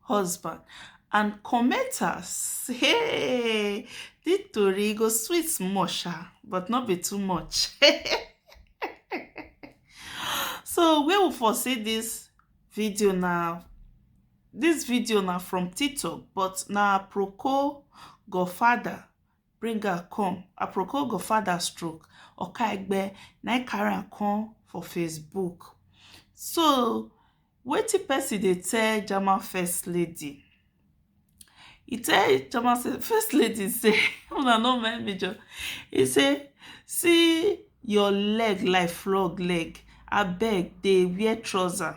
husband and commenter say di tori go sweet small sha but no be too much. so where we for see dis video na dis video na from tiktok but na aproko godfather bring am come aproko go father stroke okaigbe na im carry am come for facebook so wetin person dey tell german first lady e tell german first lady say una no mind me jo e say see your leg like frog leg abeg dey wear trouser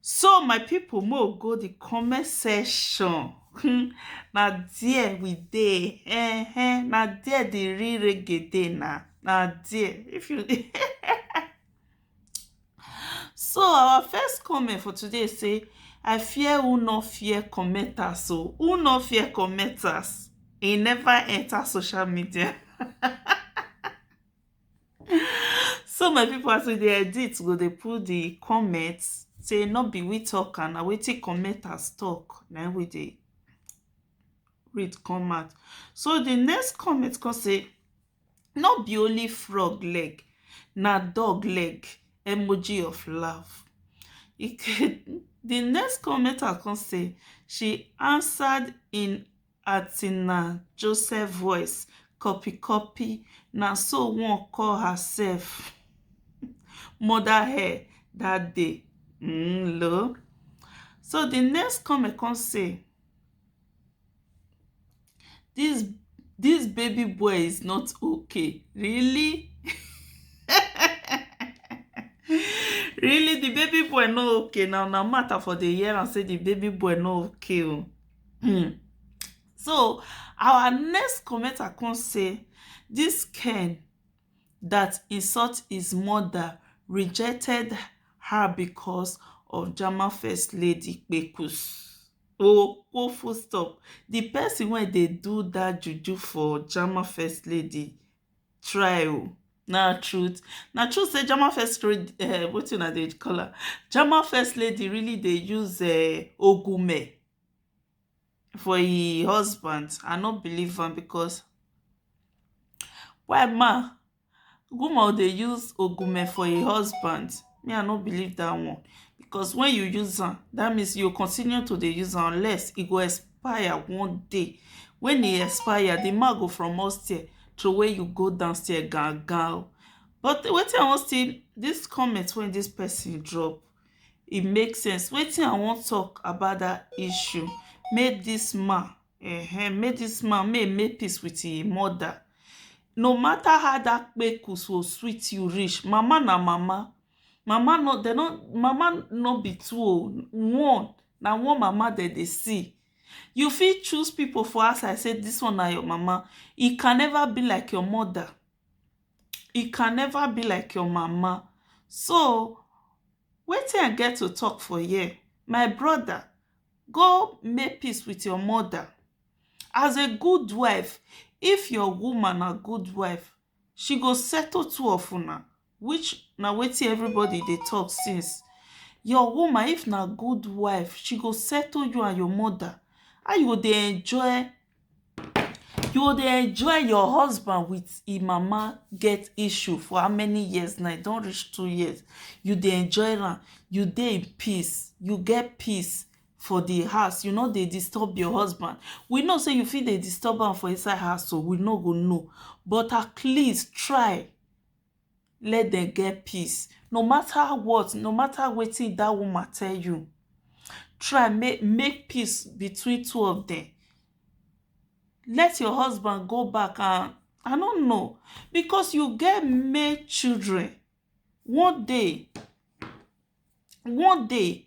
So my people make we go the comment section hmm, na there we dey eh, eh, na there the real reggae dey na na there if you so our first comment for today say i fear who no fear commenters so oh. who no fear commenters e never enter social media So my people as we dey edit, we go dey put the comment say no be we talk am, na wetin commenters talk na im we dey read come out. So the next comment come say no be only frog leg, na dog leg emoji of laugh. The next commenter come say she answered in Atina Joseph voice copy copy na so one call herself mother hair that day mm, lo so the next comment come say this this baby boy is not okay really really the baby boy no okay now na matter for the year and say the baby boy no okay oh. um so our next commenter come say dis ken dat insult his mother rejected her becos of jama first lady kpekus ooo fullstop di pesin wey dey do dat juju for jama first lady try o. Na truth. Na true sey German first lady um wetin una dey call am? German first lady really dey use um ogunme for e husband. I no believe am because why man woman dey use ogunme for e husband? Me I no believe dat one because wen you use am dat means you go continue to dey use am unless e go expire one day when e expire the man go from upstairs throway you go downstairs gangan but wetin i wan still this comment wey this person drop e make sense wetin i wan talk about that issue make this man uh-huh, make this man make make peace with him mother no matter how that kpeku so sweet you reach mama na mama mama no they no mama no be two o one na one mama dem dey see you fit choose people for outside say this one na your mama e can never be like your mother e can never be like your mama so wetin I get to talk for here my brother go make peace with your mother as a good wife if your woman na good wife she go settle two of una which na wetin everybody dey talk since your woman if na good wife she go settle you and your mother how you go dey enjoy you go dey enjoy your husband with him mama get issue for how many years now e don reach two years you dey enjoy am you dey in peace you get peace for the house you no dey disturb your husband we know say you fit dey disturb am for inside house oo we no go know but at least try let dem get peace no mata what no mata wetin dat woman tell you try make make peace between two of dem let your husband go back and I no know because you get male children one day one day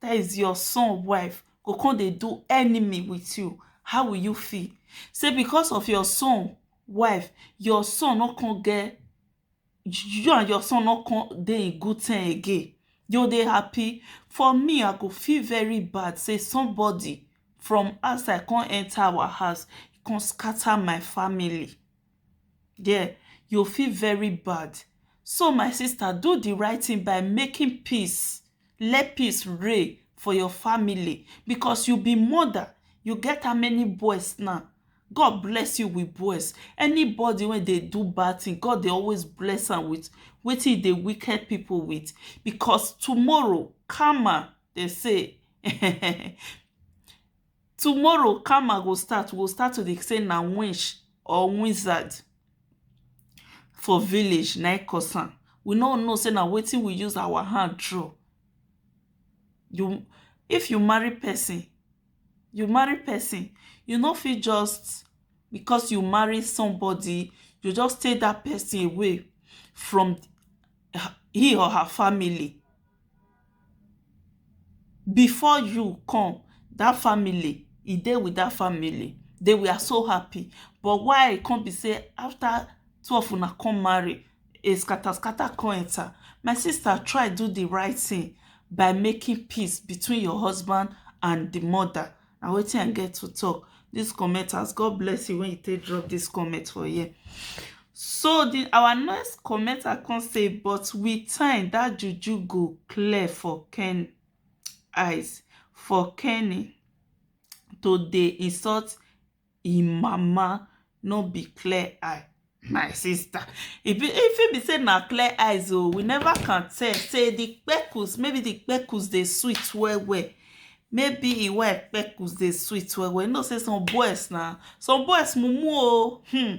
that is your son wife go come dey do enemy with you how will you feel say because of your son wife your son no come get you and your son no come dey in good term again you go dey happy for me I go feel very bad say somebody from outside come enter our house come scatter my family there you feel very bad so my sister do the right thing by making peace let peace reign for your family because you be mother you get how many boys now God bless you with boys anybody wey dey do bad thing God dey always bless am with wetin e dey wicked people with because tomorrow karma dey say Tomorrow karma go start, we go start to dey say na winch or wizard for village na im cause am. We no know say na wetin we use our hand draw. You if you marry person, you marry person, you no fit just because you marry somebody, you just take dat person away from he or her family. before you come that family e dey with that family they were so happy but why e come be sey after two of una come marry a scatter scatter come enter my sister try do the right thing by making peace between your husband and the mother na wetin i get to talk this comment as god bless you when you take drop this comment for here so the our next comment i can say but with time that juju go clear for ken eyes for kenny to dey insult im mama no be clear eye my sister e be e fit be say na clear eyes o we never can tell say the kpekus maybe the kpekus dey sweet well well maybe e why kpekus dey sweet well well you know say some boys na some boys mumu o hmm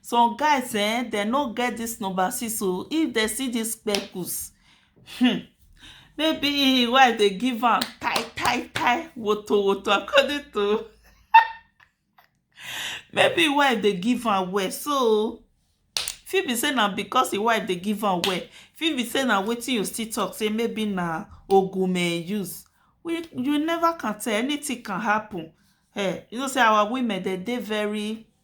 some guys eh dem no get this number six o if dem see this kpekus Hmm. Maybe why they give am tie, tie, tie, woto, woto, according to. Maybe why they give am well. So, fit be say na because the wife dey give am well fit be say na wetin you still talk say maybe na ogume use we you never can tell anything can happen eh you know say our women dey dey very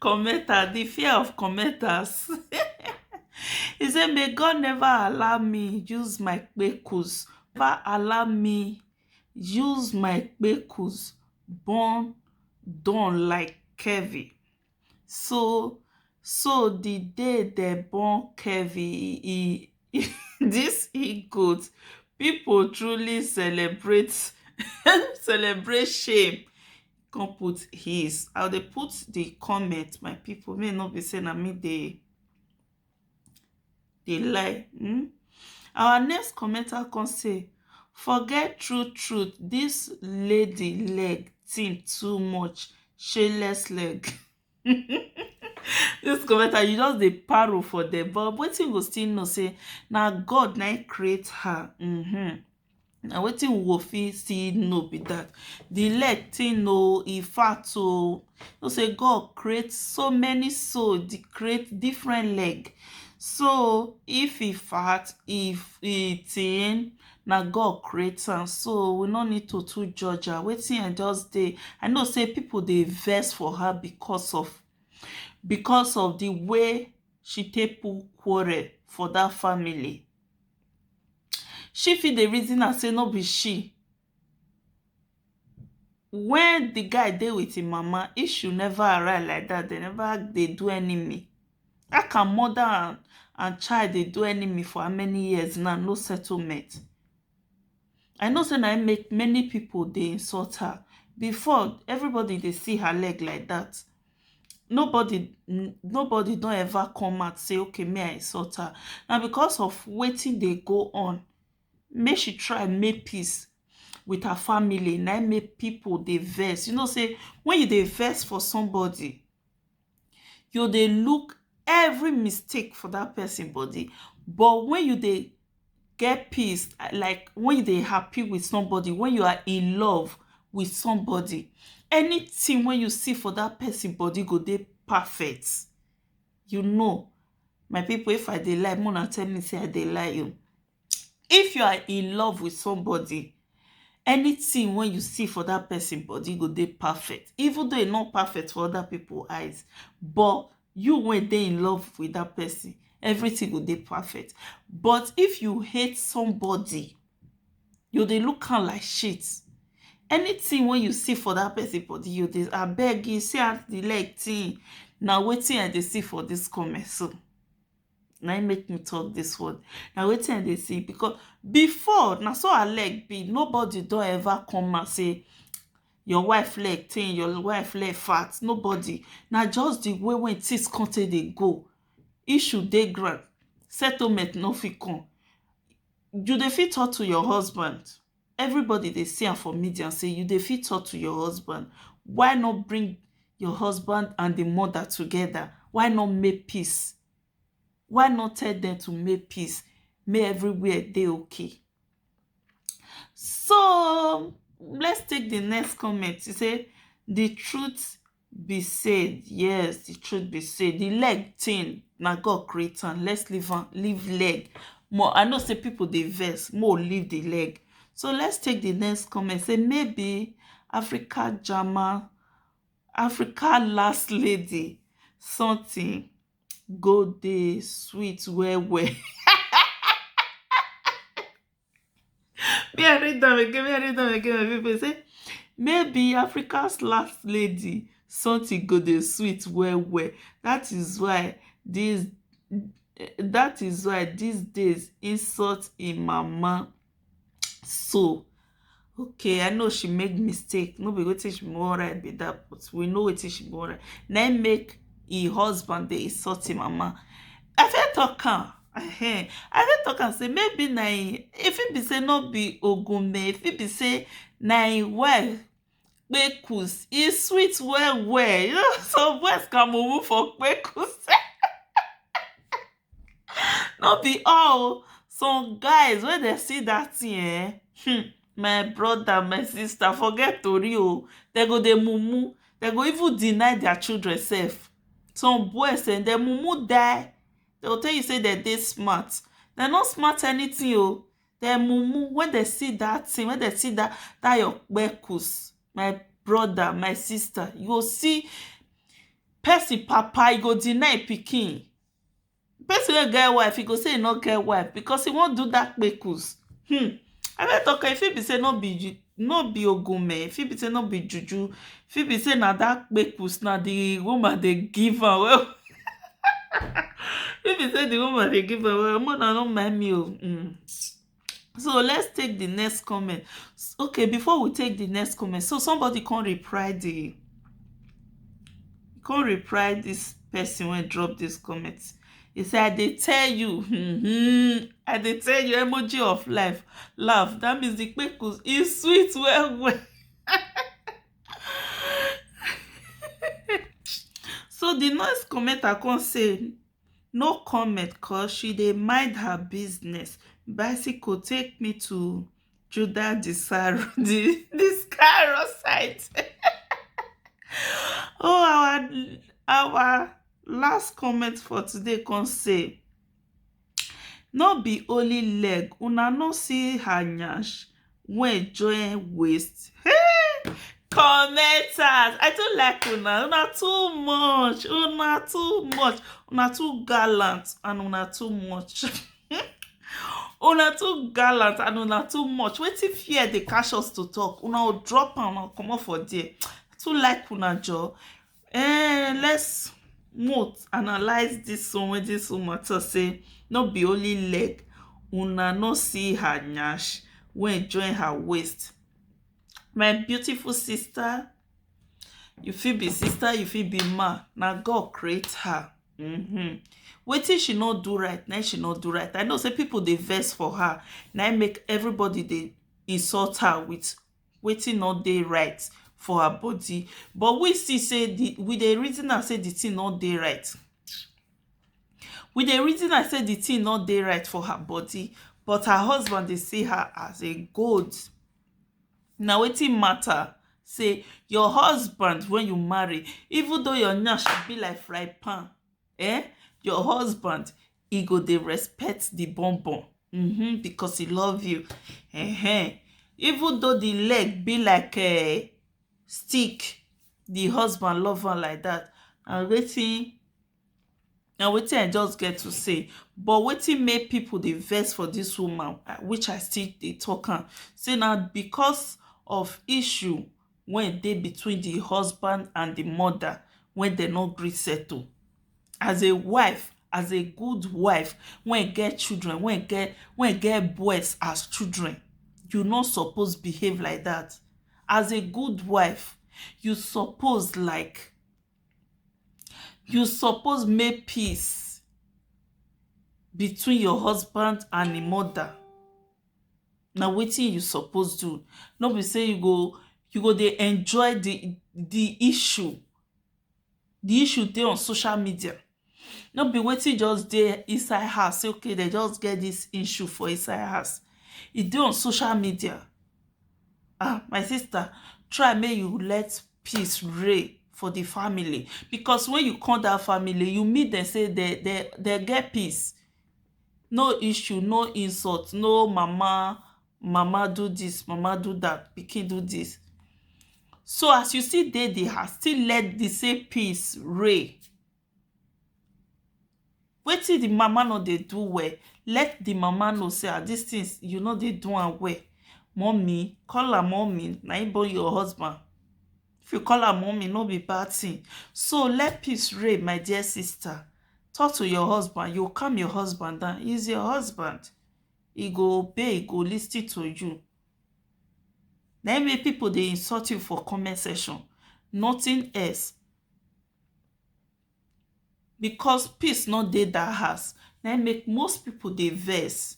Commenter the fear of commenters he say may God never allow me use my kpekus never allow me use my kpekus born done like Kevin so so the day dem born Kevin he dis he-goat people truly celebrate celebrate shame come put his i dey put the comment my people may not be say na me dey dey lie hmm? our next commenter come say forget true truth this lady leg thin too much shayless leg Dis commenter you just dey paro for dem but wetin you go still know sey na God na im create her um na wetin we go fit still know be dat. Di leg tin oo e fat oo know sey God create so many soul dey create different leg so if e fat e tin na God create am so we no need to too judge am wetin I just dey I know say people dey vex for her because of because of the way she take put quarrel for that family she fit dey reason am say no be she Wen di guy dey with im mama issue never arise like dat dem never dey do enemy how can mother and and child dey do enemy for how many years now no settlement I know say na im make many people dey insult her before everybody dey see her leg like dat nobody nobody don ever come out say okay me I insult her na because of wetin dey go on make she try make peace with her family na im make people dey vex. You know sey when you dey vex for somebody, you go dey look every mistake for that person body. But when you dey get peace, like when you dey happy with somebody, when you are in love with somebody, anything wey you see for that person body go dey perfect. You know my people if I dey lie make una tell me sey I dey lie o. If you are in love with somebody anything wey you see for that person body go dey perfect even though e no perfect for other people eyes but you wey dey in love with that person everything go dey perfect but if you hate somebody you go dey look am like shit anything wey you see for that person body you go dey abeg see as the leg thin na wetin I dey see for this comment so na im make me talk this word na wetin i dey see because before na so her leg be nobody don ever come and say your wife leg thin your wife leg fat nobody na just the way wey things come take dey go issue dey ground settlement no fit come you dey fit talk to your husband Everybody dey see am for media say you dey fit talk to your husband why not bring your husband and the mother together why not make peace why not tell them to make peace make everywhere dey okay so let's take the next comment e say the truth be say yes the truth be say the leg thing na God create am let's leave am leave leg more I know say people dey vex more leave the leg so let's take the next comment say maybe Africa Jama Africa last lady something go dey sweet well well Me I read am again, me I read am again my people say maybe Africa's last lady something go dey sweet well well that is why this that is why these days insult im mama so okay i know she make mistake no be wetin she wan write be that but we know wetin she wan write na im make im husband dey insult im mama i fit talk am ehen i fit talk am say maybe na im e fit be say no be ogunme e fit be say na im wife kpekus e sweet well well you know some boys can mumu for kpekus No be all oh, some guys wen dem see dat thing eh, hmm, my brother, my sister forget tori oh, dem go dey mumu, dem go even deny their children sef. Some boys um dem mumu die, dem go tell you sey dem dey smart, dem no smart anything oh, dem mumu wen dem see dat thing, wen dem see dat dat your kpekus, my brother, my sister, you go see person papa, e go deny e pikin, person wey get wife e go say e no get wife because e wan do that kpekus um i don talk am e fit be say no be ju no be ogunme e fit be say no be juju e fit be say na that kpekus na the woman dey give am well well e fit be say the woman dey give am well well make una no mind me o um so let's take the next comment okay before we take the next comment so somebody can reply the can reply this person when drop this comment he said i did tell you mm-hmm. i did tell you emoji of life laugh that means the kpekus is sweet well well so the next comment i can say no comment cos she dey mind her business bicycle take me to judah di cairo site oh our last comment for today come say no be only leg una no see her nyash wey join waist hey! commenters i too like una una too much una too much una too gallant and una too much una too gallant and una too much wetin fear dey catch us to talk una drop am and comot for there too like una joor Eh, let's note analyze this one wey this woman talk say no be only leg una no see her nyash wey join her waist my beautiful sister you fit be sister you fit be man na god create her mm-hmm. wetin she no do right na she no do right i know say people dey vex for her na make everybody dey insult her with wetin no dey right for her body but we see sey di we dey reason am sey di thing no dey right we dey reason am sey di thing no dey right for her body but her husband dey see her as a gold na wetin matter sey your husband wey you marry even though your nyash be like frying pan um your husband e go dey respect the bon bon mm-hmm, because he love you uh-huh. even though the leg be like a eh, stick the husband love am like that and wetin na wetin i just get to say but wetin make people dey vex for this woman uh, which i still dey talk am say na because of issue wey dey between the husband and the mother wey dem no gree settle as a wife as a good wife wey e get children wey e get wey e get boys as children you no suppose behave like dat as a good wife you suppose like you suppose make peace between your husband and him mother na wetin you suppose do no be sey you go you go dey enjoy de de issue the issue dey on social media no be wetin just dey inside house say okay dem just get this issue for inside house e dey on social media um my sister try make you let peace reign for the family because when you come that family you meet dem say dem dem dem get peace no issue no insult no mama mama do dis mama do dat pikin do dis so as you still dey di house still let di same peace reign wetin di mama no dey do well let di mama know say ah dis tin you no dey do am well mummy call am mummy na him born your husband if you call am mummy no be bad tin so let peace reign my dear sister talk to your husband you calm your husband down he's your husband He go obey, he go listen to you. Na im make people dey insult you for comment section, nothing else. Because peace no dey that house, na im make most people dey vex.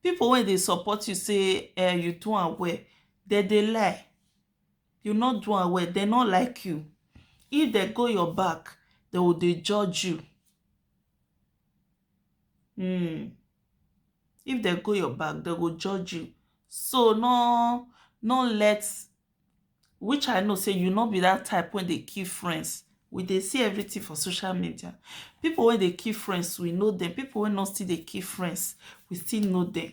People wey dey support you say um you do am well, dem dey lie. You no do am well, dem no like you. If dem go your back, dem go dey judge you. um if dem go your back dem go judge you so no no let which i know sey you no be that type wey dey keep friends we dey see everything for social media people wey dey keep friends we know dem people wey no still dey keep friends we still know dem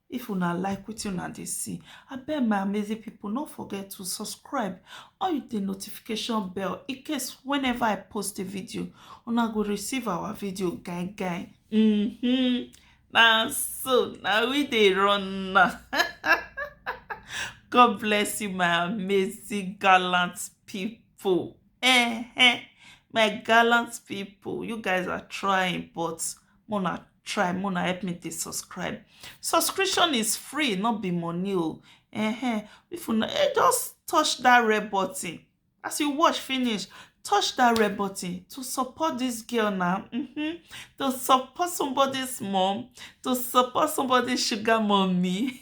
If una like wetin una dey see, abeg my amazing people no forget to subscribe or hit the notification bell in case whenever I post a video, una go receive our video gang gang. Mm-hmm. Now so now we dey run now. God bless you, my amazing gallant people. Eh, eh, my gallant people, you guys are trying, but mona try mona help me dey subscribe subscription is free no be money o uh-huh. if you eh, just touch that red button as you watch finish touch that red button to support this girl now mm-hmm. to support somebody's mom to support somebody's sugar mommy